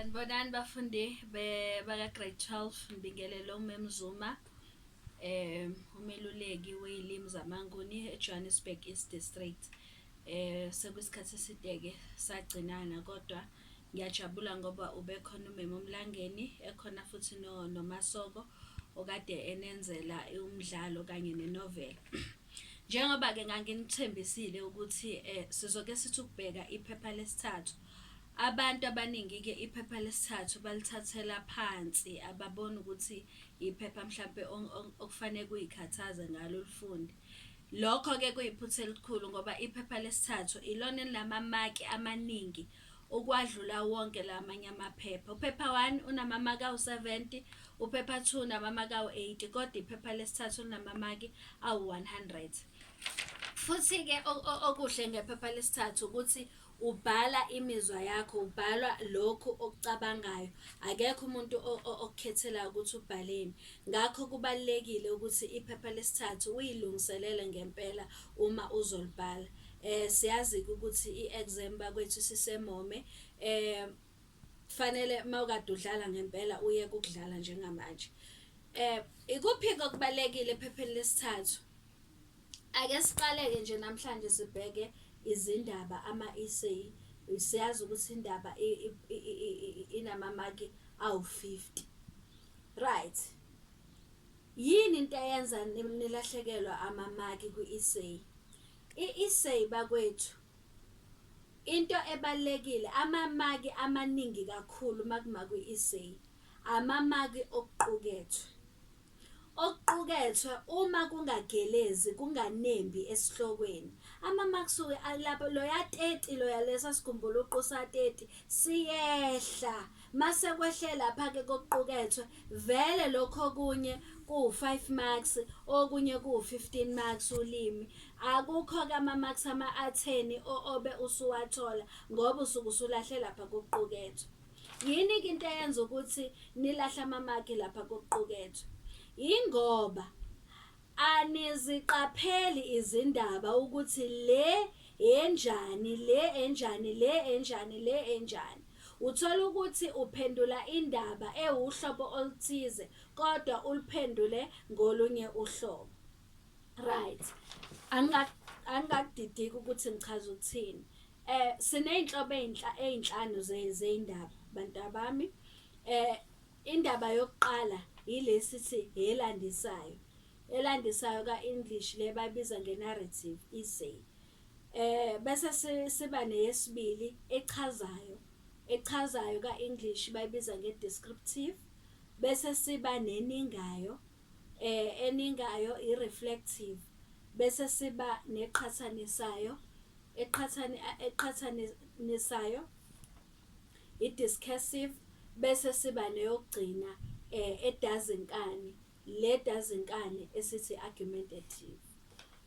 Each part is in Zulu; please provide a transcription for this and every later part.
Sanibonani bafundi baka-grade 12 Mbingelelo Memzuma eh umeluleki weyilimi zamaNguni eJohannesburg East District eh sekuyisikhathi esideke sagcinana kodwa ngiyajabula ngoba ubekhona umema omlangeni ekhona futhi no nomasoko okade enenzela umdlalo kanye nenovela njengoba ke nganginithembisile ukuthi eh sizoke sithi ukubheka iphepha lesithathu Abantu abaningi-ke iphepha lesithathu balithathela phansi, ababoni ukuthi iphepha mhlampe okufanele kuyikhathaze ngalo ulifunde. Lokho-ke kuyiphutha elikhulu ngoba iphepha lesithathu ilona elinamamaki amaningi ukwadlula wonke la manye amaphepha. Uphepha one unamamaki awu-seventy, uphepha two unamamaki awu-eighty, kodwa iphepha lesithathu linamamaki awu-one hundred. Futhi-ke okuhle ngephepha lesithathu ukuthi Ubhala imizwa yakho, ubhalwa lokhu okucabangayo. Akekho umuntu okukhethelayo ukuthi ubhaleni. Ngakho kubalulekile ukuthi iphepha lesithathu uyilungiselele ngempela uma uzolibhala. Eh siyazi-ke ukuthi i-exam bakwethu sisemome. Eh kufanele mawukade udlala ngempela uye kukudlala njengamanje. Eh ikuphi okubalekile ephepheni lesithathu? Ake siqaleke nje namhlanje sibheke izindaba ama-essay. Siyazi ukuthi indaba inamamaki awu-fifty. Right, yini into eyenza nilahlekelwa amamaki kwi-essay? I-essay bakwethu into ebalulekile amamaki amaningi kakhulu uma kuma kwi-essay amamaki okuqukethwe. Okuqukethwe, Uma kungagelezi kunganembi esihlokweni, amamaksi-ke alapho loya 30 loya lesa sigumbuluqu sa-30 siyehla. Mase kwehle lapha-ke kokuqukethwe, vele lokhu okunye kuwu-5 marks, okunye kuwu-15 marks ulimi. Akukho-ke amamaksi ama-atheni obe usuwathola ngoba usuke usulahle lapha kokuqukethwe. Yini-ke into eyenza ukuthi nilahle amamaki lapha kokuqukethwe? Yingoba aniziqapheli izindaba ukuthi le enjani, le enjani, le enjani, le enjani. Uthola ukuthi uphendula indaba ewuhlobo oluthize kodwa uluphendule ngolunye uhlobo. Right. Angikakudidiki ukuthi ngichaza ukuthini. Eh sineyinhlobo ezinhla ezinhlanu zeindaba bantabami. Eh indaba yokuqala yilesi thi elandisayo. Elandisayo ka English le bayibiza ngenarrative isay. Eh bese siba neyesibili echazayo. Echazayo ka English bayibiza ngedescriptive bese siba neningayo eningayo i-reflective bese siba neqhathanisayo eqhathanisayo i-discursive bese siba neyokugcina um edazinkani le dazinkani esithi i-argumentative.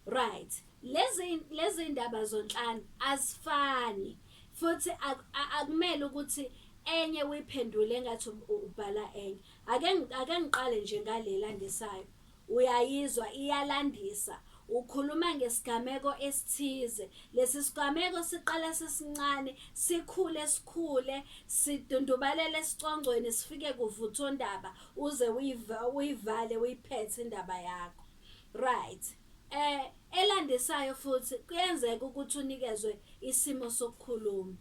Right, lezi lezi ndaba zonhlanu azifani futhi akumele ukuthi enye uyiphendule engathi ubhala enye. Ake ake ngiqale nje ngale landisayo. Uyayizwa iyalandisa. Ukhuluma ngesigameko esithize. Lesi sigameko siqala sisincane, sikhule sikhule, sidundubalele esicongcweni sifike kuvuthondaba uze uyivale uyiphethe indaba yakho. Right. Eh elandisayo futhi kuyenzeka ukuthi unikezwe isimo sokukhuluma.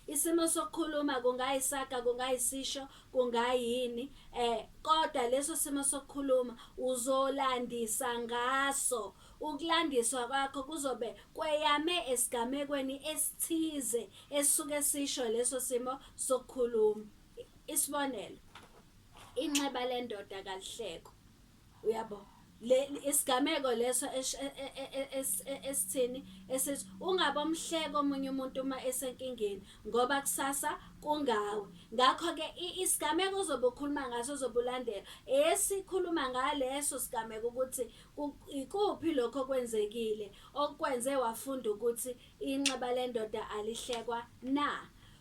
Isimo sokukhuluma kungayisaga kungayisisho kungayini eh kodwa leso simo sokukhuluma uzolandisa ngaso ukulandiswa kwakho kuzobe kweyame esigamekweni esithize esuke sisho leso simo sokukhuluma isibonelo inxeba lendoda kalihleko uyabo le isigameko leso e, e, e, esithini esithi ungaba omhleke omunye umuntu uma esenkingeni ngoba kusasa kungawe ngakho ke isigameko ozobe ukhuluma ngaso ozobulandela esikhuluma ngaleso sigameko ukuthi ikuphi lokho kwenzekile okwenze wafunda ukuthi inxeba lendoda alihlekwa na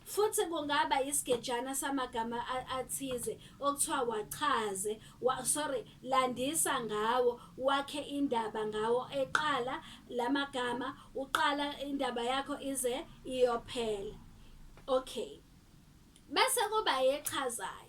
Futhi kungaba isigejana samagama athize okuthiwa wachaze, wa, sorry, landisa ngawo, wakhe indaba ngawo eqala lamagama, uqala indaba yakho ize iyophela. Okay. Bese kuba echazayo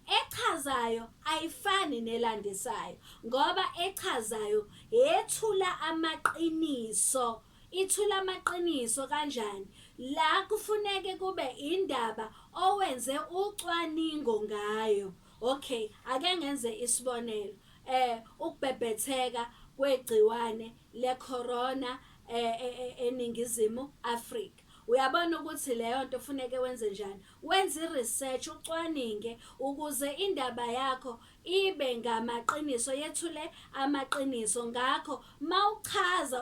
echazayo ayifani nelandisayo ngoba echazayo yethula amaqiniso Ithula amaqiniso kanjani la kufuneke kube indaba owenze ucwaningo ngayo. Okay ake ngenze isibonelo eh ukubhebhetheka kwegciwane le corona eh, eh, eh, eningizimu Africa uyabona ukuthi leyo nto funeke wenze njani wenze i-research ucwaninge ukuze indaba yakho ibe ngamaqiniso yethule amaqiniso ngakho mawuchaza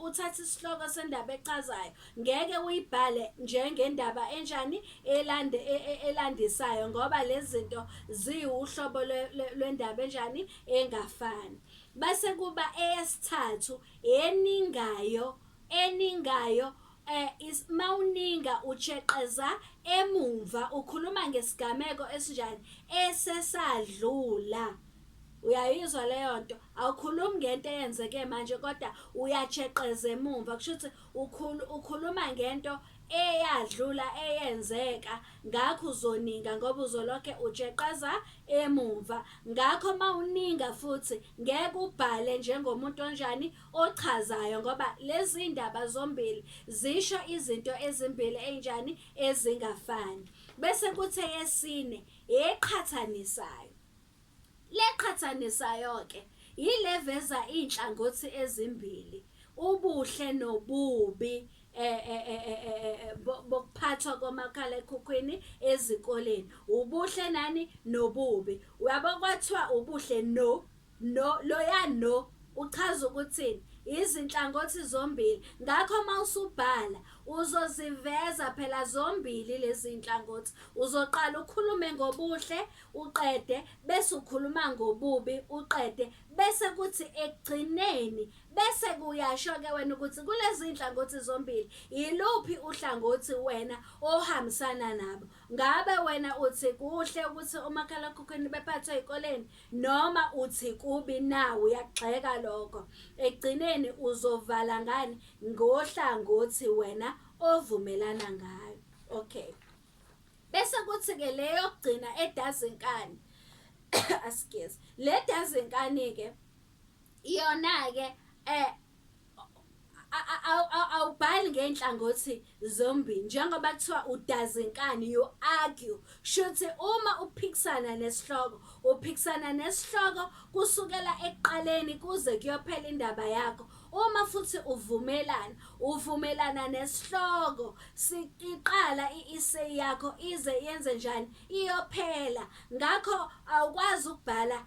uthatha isihloko sendaba echazayo ngeke uyibhale njengendaba enjani elande e, e, elandisayo ngoba lezinto ziwuhlobo lwendaba enjani engafani bese kuba eyesithathu eningayo eningayo eh, is mawuninga utsheqeza emumva ukhuluma ngesigameko esinjani esesadlula uyayizwa leyo nto awukhulumi ngento eyenzeke manje kodwa uyatsheqeza emumva kusho ukuthi ukhulu ukhuluma ngento eyadlula eyenzeka ngakho uzoninga ngoba uzolokhe utsheqeza emumva ngakho mawuninga futhi ngeke ubhale njengomuntu onjani ochazayo ngoba lezindaba zombili zisho izinto ezimbili enjani ezingafani bese kuthe yesine eqhathanisayo leqhathanisayo ke yileveza inhlangothi ezimbili ubuhle nobubi eh, eh, eh, bokuphathwa komakhala ekhukhwini ezikoleni ubuhle nani nobubi uyabo kwathiwa ubuhle no No, loya no uchaza ukuthini? Yizinhlangothi zombili. Ngakho uma usubhala, uzoziveza phela zombili lezi zinhlangothi. Uzoqala ukhulume ngobuhle, uqede, bese ukhuluma ngobubi, uqede, bese kuthi ekugcineni, bese kuyasho-ke wena ukuthi kulezi zinhlangothi zombili, yiluphi uhlangothi wena ohambisana nabo. Ngabe wena uthi kuhle ukuthi omakhalakhukhwini bephathwe ey'koleni? Noma uthi kubi na uyagxeka lokho. Ekugcineni uzovala ngani ngohlangothi wena ovumelana ngayo. Okay. Bese kuthi ke le yokugcina edazinkani. Askies. Le dazinkani ke yona ke eh awubhali ngey'nhlangothi zombili njengoba kuthiwa udazinkani you argue shuthi uma uphikisana nesihloko uphikisana nesihloko kusukela ekuqaleni kuze kuyophela indaba yakho uma futhi uvumelana uvumelana nesihloko siqala i-essay yakho ize yenze njani iyophela ngakho awukwazi ukubhala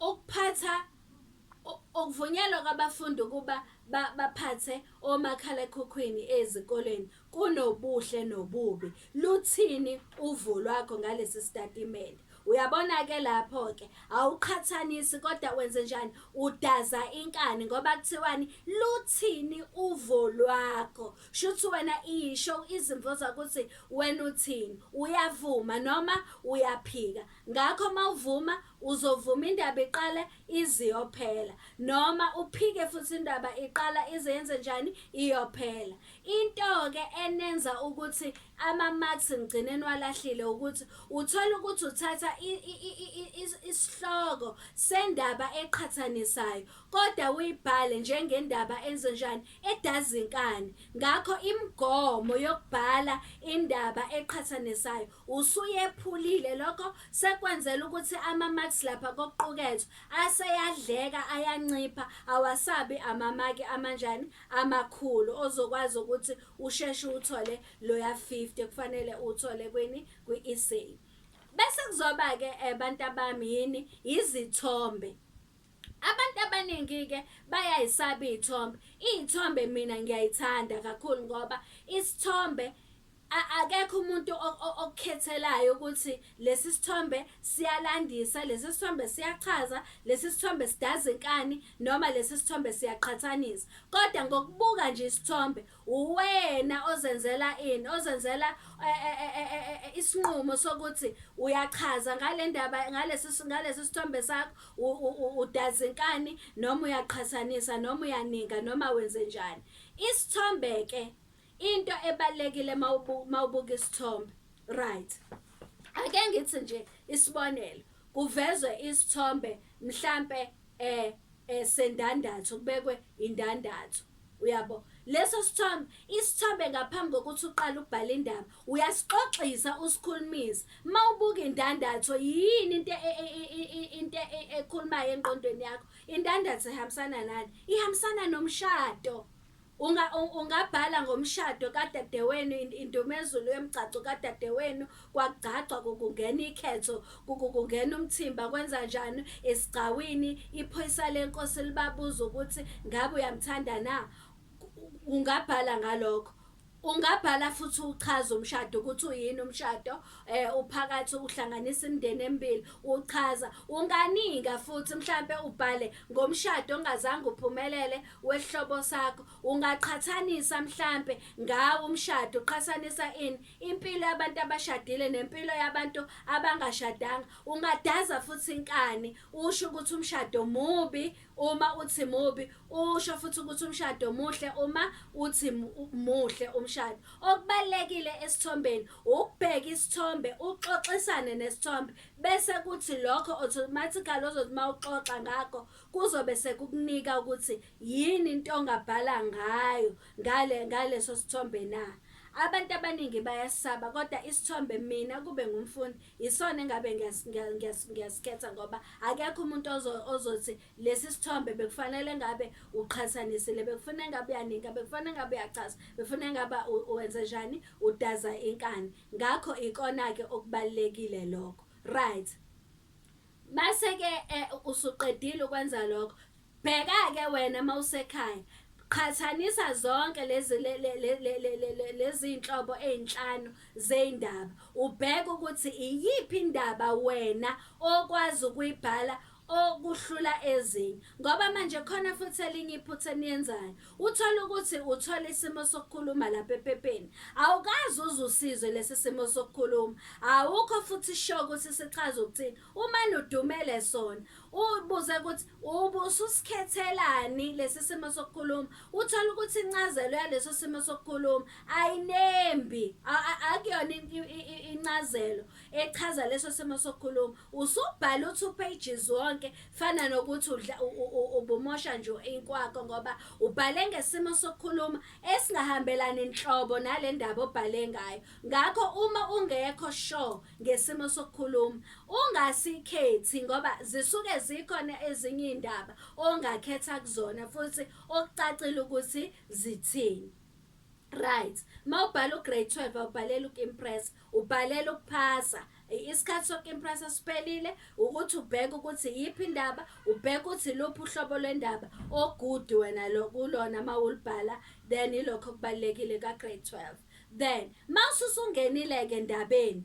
Ukuphatha ukuvunyelwa kwabafundi ukuba baphathe omakhalekhukhwini ezikoleni kunobuhle nobubi. Luthini uvo lwakho ngalesi sitatimende? Uyabona-ke lapho-ke awuqhathanisi kodwa wenze njani? Udaza inkani ngoba kuthiwani? Luthini uvo lwakho? Shuthi wena isho izimvo zakuthi wena uthini uyavuma noma uyaphika ngakho mawuvuma uzovuma indaba iqale iziyophela noma uphike futhi indaba iqala izenze njani iyophela into ke enenza ukuthi ama marks ngigcineni walahlile ukuthi uthola ukuthi uthatha isihloko sendaba eqhathanisayo kodwa uyibhale njengendaba enze njani edazinkani ngakho imigomo yokubhala indaba eqhathanisayo usuyephulile lokho sekwenzela ukuthi ama-max lapha kokuqukethwe aseyadleka ayancipha awasabi amamaki amanjani amakhulu ozokwazi ukuthi usheshe uthole loya 50 kufanele uthole kwini kwi-essay bese kuzoba-ke um eh, bantu abami yini yizithombe Abantu abaningi-ke bayayisaba iy'thombe. Iy'thombe mina ngiyayithanda kakhulu ngoba isithombe akekho umuntu okukhethelayo ukuthi lesi sithombe siyalandisa, lesi sithombe siyachaza, lesi sithombe sidaza inkani noma lesi sithombe siyaqhathanisa. Kodwa ngokubuka nje isithombe Uwena ozenzela ini? Ozenzela e, e, e, isinqumo sokuthi uyachaza ngale ndaba ngalesi ngalesi sithombe sakho udazinkani noma uyaqhathanisa noma uyaninga noma wenze njani. Isithombe ke into ebalekile mawubuka isithombe. Right. Ake ngithi nje isibonelo kuvezwe isithombe mhlambe e, e, sendandatho kubekwe indandatho uyabo leso sithombe isithombe ngaphambi kokuthi uqale ukubhala indaba uyasixoxisa usikhulumisa uma ubuka indandatho yini into e, e, e, into ekhulumayo engqondweni yakho indandatho ihambisana nani ihambisana nomshado Unga, ungabhala ngomshado kadadewenu indumezulu yomgcagco kadadewenu kwakugcagcwa kukungena ikhetho kukungena umthimba kwenza njani esigcawini iphoyisa lenkosi libabuza ukuthi ngabe uyamthanda na ungabhala ngalokho Ungabhala futhi uchaze umshado ukuthi uyini umshado eh uphakathi uhlanganisa imindeni emibili uchaza unganinga futhi mhlambe ubhale ngomshado ongazange uphumelele wesihlobo sakho ungaqhathanisa mhlambe ngawo umshado uqhathanisa ini impilo yabantu abashadile nempilo yabantu abangashadanga ungadaza futhi inkani usho ukuthi umshado mubi Uma uthi mubi usho futhi ukuthi umshado muhle uma uthi muhle umshado. Okubalekile esithombeni ukubheka isithombe uxoxisane nesithombe bese kuthi lokho automatically ozothi mawuxoxa ngakho kuzobe sekukunika ukuthi yini into ongabhala ngayo ngale ngaleso sithombe na. Abantu abaningi bayasaba kodwa isithombe mina kube ngumfundi Yisona engabe ngiyasikhetha ngoba akekho umuntu ozothi lesi sithombe bekufanele ngabe uqhathanisile bekufuna engabe uyaninga bekufana engabe uyachaza befuna engabe wenze njani udaza inkani ngakho ikona-ke okubalulekile lokho right mase-ke eh, usuqedile ukwenza lokho Bheka-ke wena uma usekhaya, qhathanisa zonke lezi le- le- le- le- le- le- le- lezi iy'nhlobo ey'nhlanu zey'ndaba, ubheke ukuthi iyiphi indaba wena okwazi ukuyibhala okuhlula ezinye. Ngoba manje khona futhi elinye iphutha eniyenzayo. Uthole ukuthi uthola isimo sokukhuluma lapha ephepheni. Awukazi uze usizwe lesi simo sokukhuluma. Awukho futhi sure ukuthi sichaza ukuthini. Uma nudumele sona, ubuze ukuthi ubususikhethelani lesi simo sokukhuluma, uthole ukuthi incazelo yaleso simo sokukhuluma ayinembi, akuyona incazelo echaza leso simo sokukhuluma. Usubhala u-two pages wonke fana nokuthi ubumosha nje inkwakho ngoba ubhale ngesimo sokukhuluma esingahambelani nhlobo nale ndaba obhale ngayo. Ngakho uma ungekho sure ngesimo sokukhuluma ungasikhethi ngoba zisuke zikhona ezinye iy'ndaba ongakhetha kuzona futhi okucacile ukuthi zithini right uma ubhala ugrade 12 awubhaleli uku-impressa ubhalela ukuphasa isikhathi soku-impressa siphelile ukuthi ubheke ukuthi yiphi indaba ubheke ukuthi luphi uhlobo lwendaba ogudi wena kulona uma ulibhala then ilokho okubalulekile ka-grade 12 Then mawususungenile ke ndabeni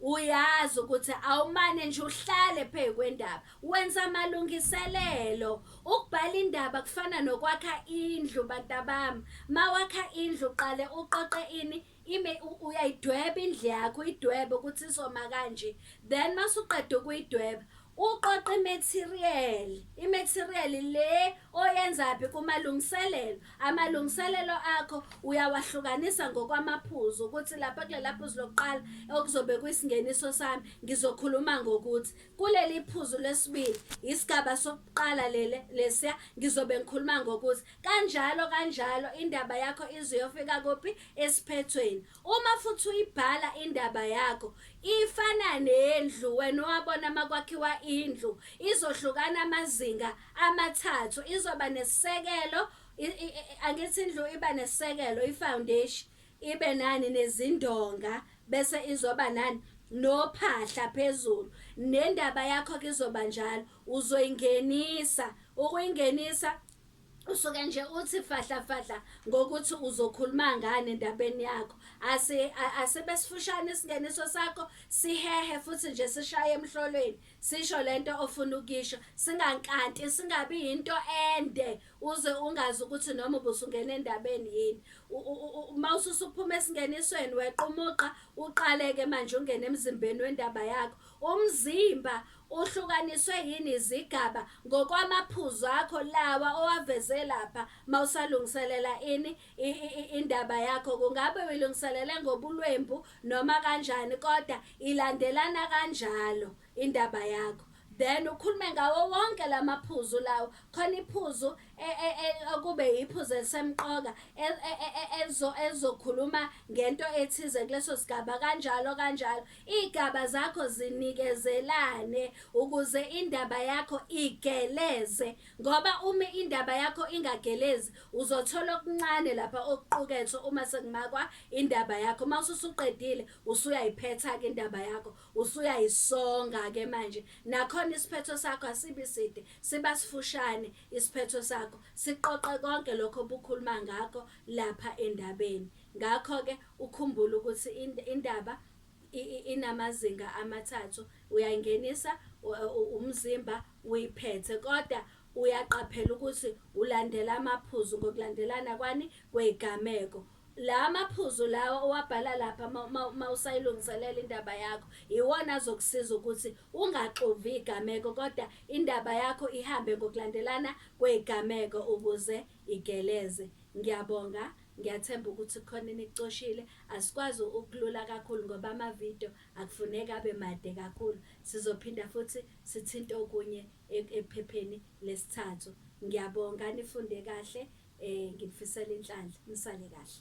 uyazi ukuthi awumane nje uhlale phezu kwendaba wenza amalungiselelo ukubhala indaba kufana nokwakha indlu bantabami mawakha indlu qale uqoqe ini ime uyayidweba indlu yakho idwebe ukuthi isoma kanje then masuqeda ukuyidweba Uqoqa imaterial, imaterial le oyenzaphi kumalungiselelo. Amalungiselelo akho uyawahlukanisa ngokwamaphuzu ukuthi lapha kulela phuzu lokuqala okuzobe kuyisingeniso sami ngizokhuluma ngokuthi kuleli phuzu lesibili isigaba sokuqala lele lesiya ngizobe ngikhuluma ngokuthi kanjalo kanjalo indaba yakho iziyofika kuphi esiphethweni Uma futhi uyibhala indaba yakho ifana nendlu wena owabona makwakhiwa indlu izohlukana amazinga amathathu izoba nesisekelo i- i- i- angithi indlu iba nesisekelo i-foundation ibe nani nezindonga bese izoba nani nophahla phezulu nendaba yakho ke izoba njalo uzoyingenisa ukuyingenisa usuke nje uthi fahla fahla ngokuthi uzokhuluma ngani endabeni yakho ase asebe sifushane isingeneso sakho sihehe futhi nje sishaye emhlolweni sisho lento ofuna ukisho singankanti singabi into ende uze ungazi ukuthi noma ubusungena endabeni yini uma ususuphuma esingenisweni wequmuqa uqaleke manje ungena emzimbeni wendaba yakho umzimba Uhlukaniswe yini izigaba ngokwamaphuzu akho lawa owaveze lapha mawusalungiselela ini i, i, i, indaba yakho kungabe uyilungiselele ngobulwembu noma kanjani kodwa ilandelana kanjalo indaba yakho then ukhulume ngawo wonke lamaphuzu lawo khona iphuzu e, e, e, okube iphuzu elisemqoka elizokhuluma ngento ethize kuleso sigaba kanjalo kanjalo Igaba zakho zinikezelane ukuze indaba yakho igeleze ngoba uma indaba yakho ingagelezi uzothola okuncane lapha okuqukethwe uma sekumakwa indaba yakho uma ususuqedile usuyayiphetha-ke indaba yakho usuyayisonga-ke manje nakhona isiphetho sakho asibi side siba sifushane isiphetho sakho siqoqe konke lokho obukhuluma ngakho lapha endabeni Ngakho-ke ukhumbule ukuthi indaba inamazinga amathathu, uyayingenisa umzimba uyiphethe kodwa uyaqaphela ukuthi ulandela amaphuzu ngokulandelana kwani kweyigameko. La maphuzu lawa owabhala lapha uma usayilungiselela indaba yakho iwona azokusiza ukuthi ungaxovi igameko kodwa indaba yakho ihambe ngokulandelana kweyigameko ukuze igeleze. Ngiyabonga Ngiyathemba ukuthi kukhona enikucoshile. Asikwazi ukulula kakhulu ngoba ama-video akufuneki abe made kakhulu. Sizophinda futhi sithinte okunye ephepheni lesithathu. Ngiyabonga, nifunde kahle. Nginifisela inhlanhla. Nisale kahle.